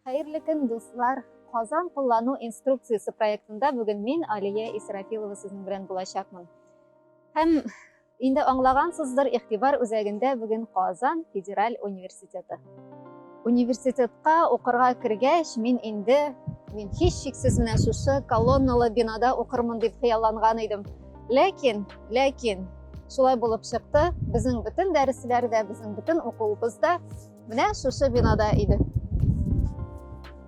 Хәерле көн, дуслар! Казан куллану инструкциясе проектында бүген мин, Алия Исрафилова, сезнең белән булачакмын. Һәм инде аңлагансыздыр, игътибар үзәгендә бүген Казан федераль университеты. Университетка укырга кергәч, мин инде мин һич шиксез менә шушы колонналы бинада укырмын дип хыялланган идем. Ләкин, ләкин, шулай булып чыкты, безнең бөтен дәресләрдә, безнең бөтен укуыбызда Менә шушы бинада иде.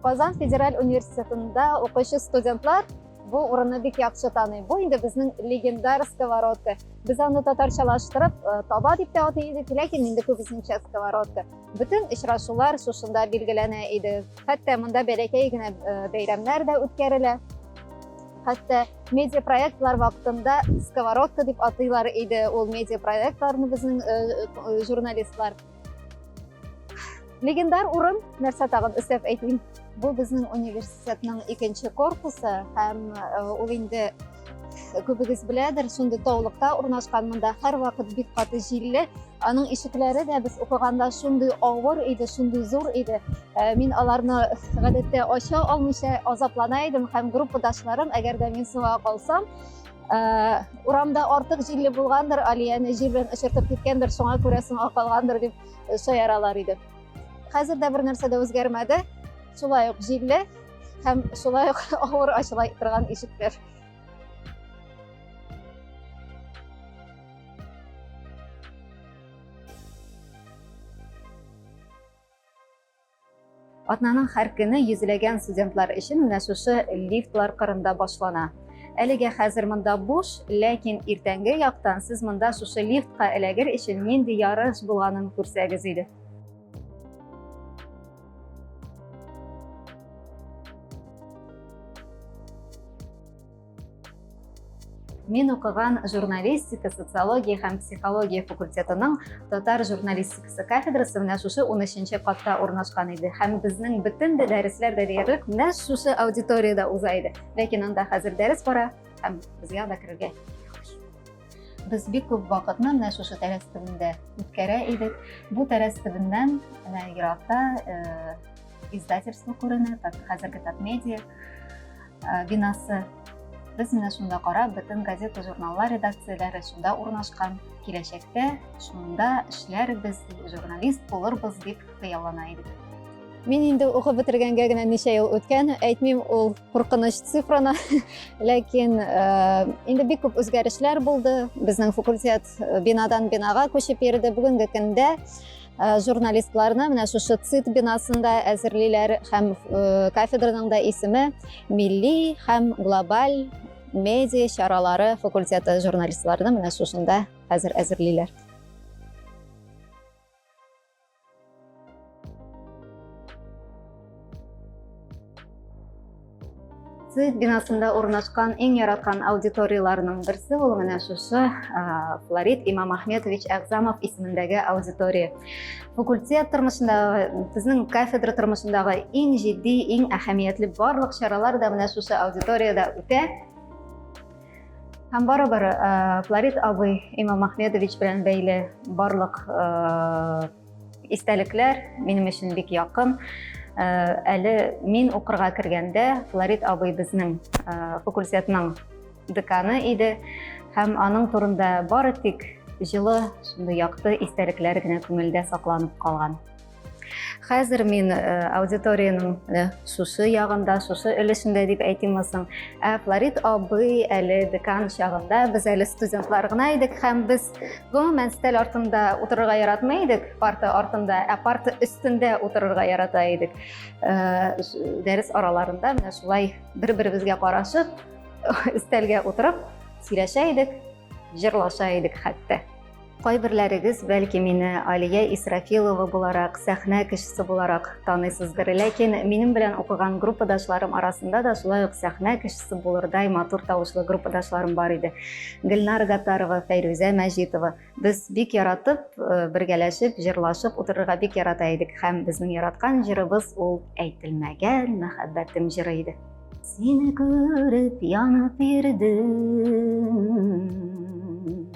Казан федераль университетында укучы студентлар бу урынны бик яхшы таный. Бу инде безнең легендар сковородка. Без аны татарчалаштырып э, таба дип тә атый идек, ләкин инде күбесенчә сковородка. Бөтен очрашулар шушында билгеләнә иде. Хәтта монда бәләкәй генә э, бәйрәмнәр дә үткәрелә. Хәтта медиа проектлар вакытында сковородка дип атыйлар иде. Ул медиа проектларны безнең э, журналистлар Легендар урын, нәрсә тагын өстәп әйтим. Бу безнең университетның икенче корпусы һәм э, ул инде э, күбегез беләдер, шундый таулыкта урнашкан монда һәр вакыт бик каты җилле. Аның ишекләре дә без укыганда шундый авыр иде, шундый зур иде. Э, мин аларны гадәттә ача алмыйча азаплана идем һәм группадашларым, әгәр дә мин суга калсам, Э, урамда артык җилле булгандыр алияне җил белән очыртып киткәндер шуңа күрә соңга калгандыр дип э, шаяралар иде хәзер дә бер нәрсә дә үзгәрмәде шулай ук җилле һәм шулай ук авыр ачыла торган ишекләр Атнаның һәр көне йөзләгән студентлар өчен менә шушы лифтлар кырында башлана. Әлегә хәзер монда буш, ләкин иртәнге яктан сез монда шушы лифтка эләгер өчен нинди ярыш булганын күрсәгез иде. Мин укыган журналистика, социология һәм психология факультетының татар журналистикасы кафедрасы менә шушы 13-нче катта урнашкан иде. Һәм безнең бөтен дә дәресләр дә диярлек менә шушы аудиториядә уза иде. Ләкин анда хәзер дәрес бара һәм безгә дә керергә без бик күп вакытны менә шушы тәрәз төбендә үткәрә идек. Бу тәрәз төбеннән менә еракта э, издательство күренә так хәзерге так медиа э, бинасы без менә шунда карап бөтен газета журналлар редакцияләре шунда урнашкан киләчәктә шунда эшләрбез журналист булырбыз дип хыяллана идек Мин инде укып бетергәнгә генә ничә ел үткән, әйтмим ул куркыныч цифраны, ләкин э, инде бик күп үзгәрешләр булды. Безнең факультет э, бинадан бинага күчеп йөрде. Бүгенге көндә Э, журналистларны менә шушы ЦИТ бинасында әзерлиләр һәм э, кафедраның да исеме милли һәм глобаль медиа чаралары факультеты журналистларны менә шушында хәзер әзерлиләр. Сез бинасында урнашкан иң яраткан аудиторияләрнең берсе ул менә шушы Флорид Имам Ахметович Әгзамов исемендәге аудитория. Факультет тормышында безнең кафедра тормышындагы иң җитди, иң әһәмиятле барлык чаралар да менә шушы аудиториядә үтә. Һәм барыбер Флорид абый Имам Ахметович белән бәйле барлык Истәлекләр минем өчен бик якын. Э, әле мин укырга кергәндә Флорид абый безнең э, факультетның деканы иде һәм аның турында бары тик җылы, шундый якты истәлекләр генә күңелдә сакланып калган. Хәзер мин э, аудиторияның э, шушы ягында, шушы өлешендә дип әйтим соң. Ә Флорид абый әле декан чагында без әле студентлар гына идек һәм без Гомумән, стель артында утырырга яратмый идек, парта артында, ә парта өстендә утырырга ярата идек. Э, дәрес араларында менә шулай бер-беребезгә карашып, стельгә утырып, сөйләшә идек, җырлаша идек хәтта. Кайберләрегез, бәлки мине Алия Исрафилова буларак, сәхнә кешесе буларак таныйсыздыр, ләкин минем белән укыган группадашларым арасында да шулай ук сәхнә кешесе кызыксынасы булырдай матур тавышлы группадашларым бар иде. Гөлнар Гатарова, Фәйрүзә Мәҗитова. Без бик яратып, э, бергәләшеп, җырлашып утырырга бик ярата идек һәм безнең яраткан җырыбыз ул әйтелмәгән мәхәббәтем җыры иде. Сине күреп янып йөрдем.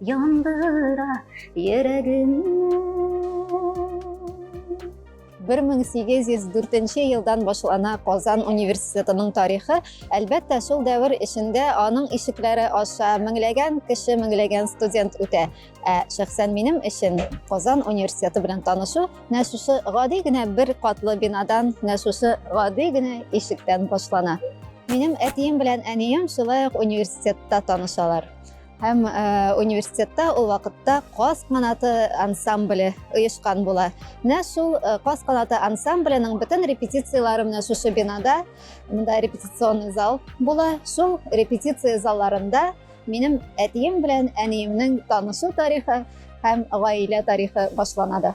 Яндыра йөрәгемне 1804 елдан башлана Казан университетының тарихы. Әлбәттә, шул дәвер эчендә аның ишекләре аша меңләгән кеше, меңләгән студент үтә. Ә шәхсән минем өчен Казан университеты белән танышу нә шушы гади генә бер катлы бинадан, нә шушы гади генә ишектән башлана. Минем әтием белән әнием шулай ук университетта танышалар. Һәм университетта ул вакытта Каз канаты ансамбле оешкан була. Менә шул Каз канаты ансамбленең бөтен репетицияләре менә шушы бинада, монда репетиционный зал була. Шул репетиция залларында минем әтием белән әниемнең танышу тарихы һәм гаилә тарихы башлана да.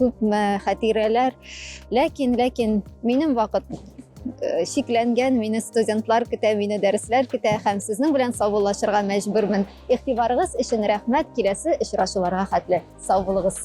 күпме хәтирәләр ләкин ләкин минем вакыт э, шикләнгән мине студентлар көтә мине дәресләр көтә һәм сезнең белән саубуллашырга мәҗбүрмен игътибарыгыз өчен рәхмәт киләсе очрашуларга хәтле сау булыгыз